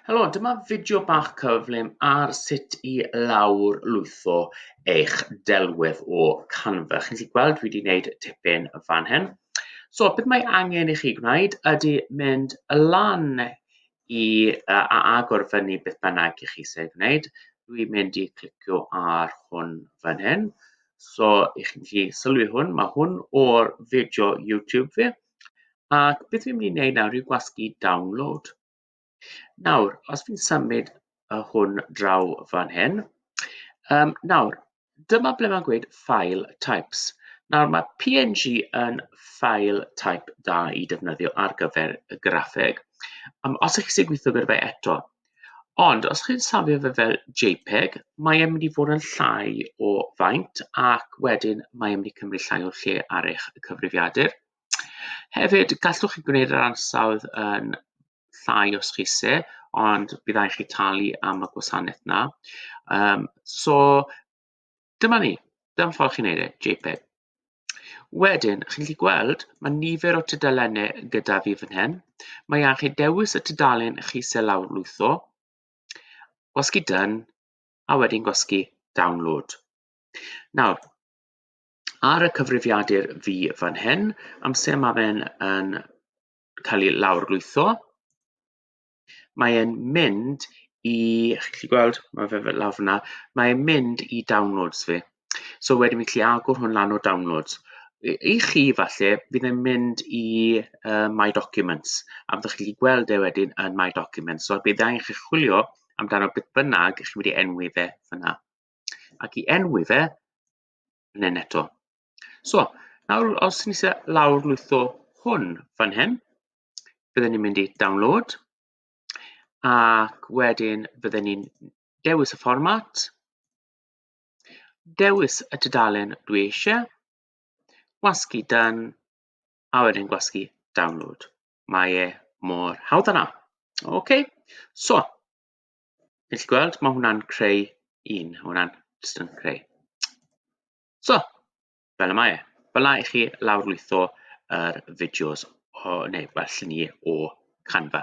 Helo, dyma fideo bach cyflym ar sut i lawr lwytho eich delwedd o Canva. Chi'n gallu gweld dwi wedi gwneud tipyn fan hyn. So, beth mae angen i chi gwneud ydy mynd y lan i uh, a agor fyny beth bynnag i chi sy'n gwneud. Dwi'n mynd i clicio ar hwn fan hyn. So, i chi'n gallu sylwi hwn, mae hwn o'r fideo YouTube fi. Ac beth fi'n mynd i wneud nawr yw gwasgu download. Nawr, os fi'n symud y hwn draw fan hyn, um, nawr, dyma ble mae'n gweud file types. Nawr, mae PNG yn file type da i defnyddio ar gyfer y graffeg. Um, os ych chi'n gweithio gyda fe eto, Ond os chi'n safio fe fel JPEG, mae e'n mynd i fod yn llai o faint ac wedyn mae e'n mynd i cymryd llai o lle ar eich cyfrifiadur. Hefyd, gallwch chi gwneud yr ansawdd yn llai os chi se, ond byddai chi talu am y gwasanaeth na. Um, so, Dyma ni, dyma ffordd chi'n neud e, JPEG. Wedyn, chi'n gallu gweld, mae nifer o tudalennau gyda fi fan hyn. Mae angen chi dewis y tudalen chi sy'n lawr lwytho, gwasgu done, a wedyn gwasgu download. Nawr, ar y cyfrifiadur fi fan hyn, amser mae fe'n yn cael ei lawr lwytho, Mae e'n mynd i, chi'n gallu gweld, mae fe fel lawr fyna, mae e'n mynd i downloads fi. So wedyn fi'n gallu agor hwn lan o downloads. I, i chi falle, bydd e'n mynd i uh, My Documents, a byddwch chi'n gallu gweld e wedyn yn My Documents. So bydd angen chi chwilio amdano beth bynnag chi'n mynd i enwi fe fyna. Ac i enwi fe, yn un eto. So, nawr os ni se lawr lwytho hwn fan hyn, bydden ni'n mynd i download ac wedyn bydden ni'n dewis y fformat, dewis y tudalen dwi eisiau, gwasgu done a wedyn gwasgu download. Mae e mor hawdd yna. OK, so, chi'n gallu gweld, mae hwnna'n creu un, mae hwnna'n just yn creu. So, fel y mae e. Fel yna i chi lawrlwytho yr fideos, o, neu well, lluniau o Canva.